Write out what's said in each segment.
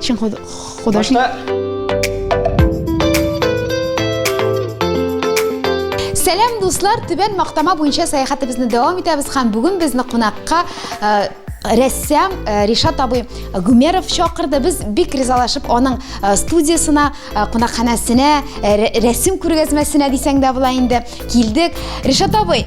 Чын художник. Сәлам дуслар, Түбән Мактама буенча сәяхәтебезне дәвам итәбез һәм бүген безне кунакка э, рәссам э, Ришат абый Гүмеров чакырды. Без бик ризалашып аның э, студиясына, э, кунакханәсенә, рәсем күргәзмәсенә дисәң дә була инде килдек. Ришат абый,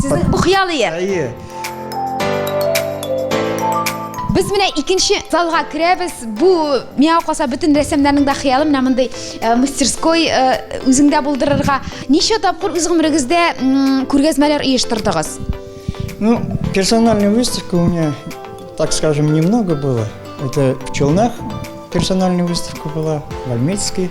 Сезнең бу хыял ие. Әйе. Без менә икенче залга керәбез. Бу миңа калса бөтен рәссамнарның да хыялы менә мондый э, мастерской э, үзеңдә булдырырга. Ничә тапкыр үз гомерегездә күргәзмәләр оештырдыгыз? Ну, персональная выставка у меня, так скажем, немного было. Это в Челнах персональная выставка была, в Альметьевске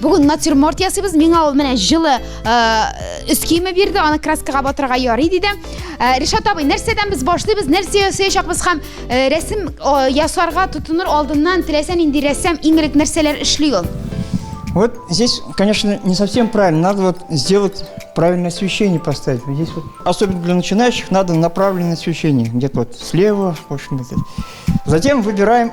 Бүген натюрморт ясыйбыз. Миңа ул менә җылы өс киеме бирде, аны краскага батырырга ярый диде. Ришат абый, нәрсәдән без башлыйбыз, нәрсә ясаячакбыз һәм рәсем ясарга тотыныр алдыннан теләсә нинди рәссам иң элек нәрсәләр эшли ул? Вот здесь, конечно, не совсем правильно. Надо вот сделать правильное освещение поставить. Вот здесь вот, особенно для начинающих, надо направленное освещение. Где-то вот слева, в общем, вот Затем выбираем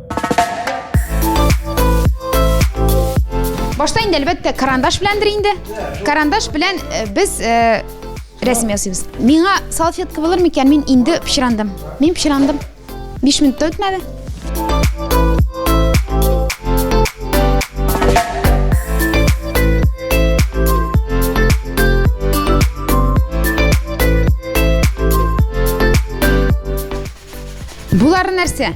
Башта инде әлбәттә карандаш беләндер инде. Карандаш белән э, без э, рәсем ясыйбыз. Миңа салфетка булыр микән? Мин инде пычрандым. Мин пычрандым. 5 минут үтмәде. Булары нәрсә?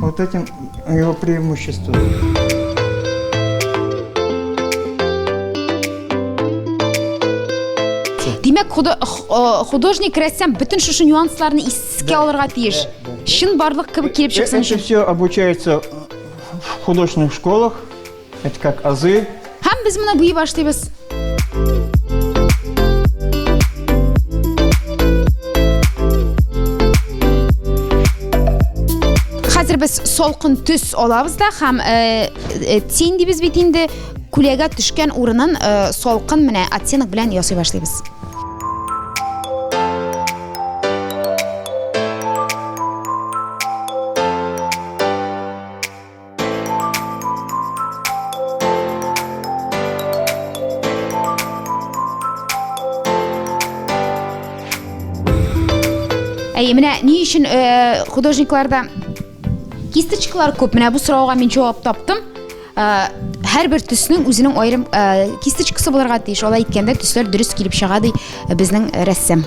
Вот этим его преимущество. Димәк, художник рәссам бөтен шушы нюансларны искә алырга тиеш. Чын барлык кебек килеп чыксын. Это все обучается в художественных школах. Это как азы. Һәм без моны буй башлыйбыз. Хәзер без солкын төс алабыз да һәм э, э, тин дибез бит инде күләгә төшкән урынын э, солкын менә оттенок белән ясый башлыйбыз. Әй, менә ни өчен э, художникларда кисточкалар күп? Менә бу сорауга мин җавап таптым. Э, һәрбер төснең үзенең аерым э, кисточкасы булырга тиеш. Алай иткәндә төсләр дөрес килеп чыга ди э, безнең рәссам.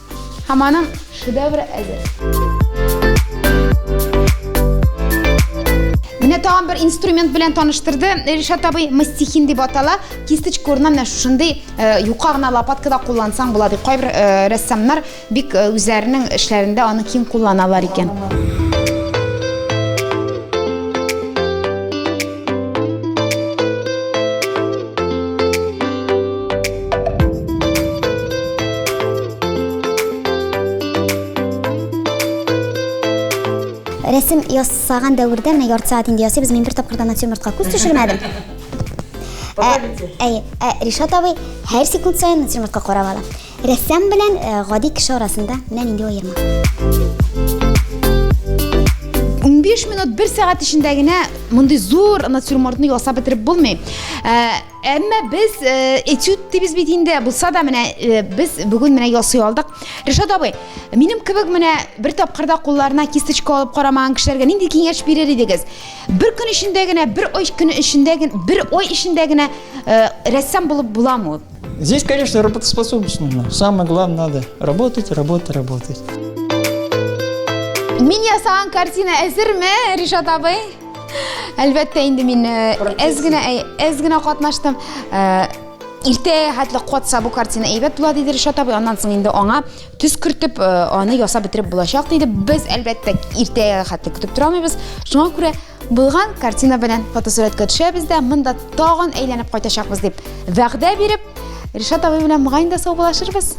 Һәм аның шедевры әзер. Менә тагын бер инструмент белән таныштырды Ришат абый, мастихин дип атала. Кисточка урынына менә шушындый э, юка гына лопаткада куллансаң була дип кайбер э, рәссамнар бик э, үзләренең эшләрендә аны киң кулланалар икән. Рәсем ясаган дәвердә менә ярты сәгать инде ясыйбыз. Мин бер тапкырда натюрмортка күз төшермәдем. Әй, Ришат абый һәр секунд саен натюрмортка карап ала. Рәссам белән э, гади кеше арасында менә нинди аерма. 15 минут бер сәгать эчендә генә мондый зур натюрмортны ясап бетереп булмый. Ә, әмма без ә, этюд дибез бит инде. Булса да менә ә, без бүген менә ясый алдык. Ришат абый, минем кебек менә бер тапкырда кулларына кисточка алып карамаган кешеләргә нинди киңәш бирер идегез? Бер көн эчендә генә, бер ай көн эчендә генә, бер ай эчендә генә ә, рәссам булып буламы? Здесь, конечно, работоспособность нужна. Самое главное, надо работать, работать, работать. Мин ясаган картина әзерме, Ришат абый? Әлбәттә, инде мин әз генә әз генә катнаштым. Иртә хәтле катса бу картина әйбәт була диде Ришат абый. Аннан соң инде аңа төс кертеп, аны ясап бетереп булачак диде. Без әлбәттә иртә хәтле көтеп тора алмыйбыз. Шуңа күрә Булган картина белән фотосурәткә төшәбез дә, монда тагын әйләнеп кайтачакбыз дип вәгъдә биреп, Ришат абый белән моңа инде саубуллашырбыз.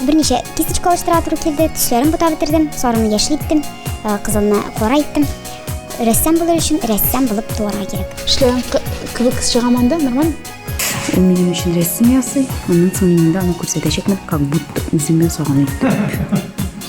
Берничә кисточка алыштыра туры килде, төсләрен бутап бетердем, сарыны яшел иттем, э, кызылны кара иттем. Рәссам булыр өчен рәссам булып туарга кирәк. Эшләгән кебек чыгаманда, нормально? Ул минем өчен рәсем ясый, аннан соң мин инде аны күрсәтәчәкмен, как будто үзем ясаган итеп.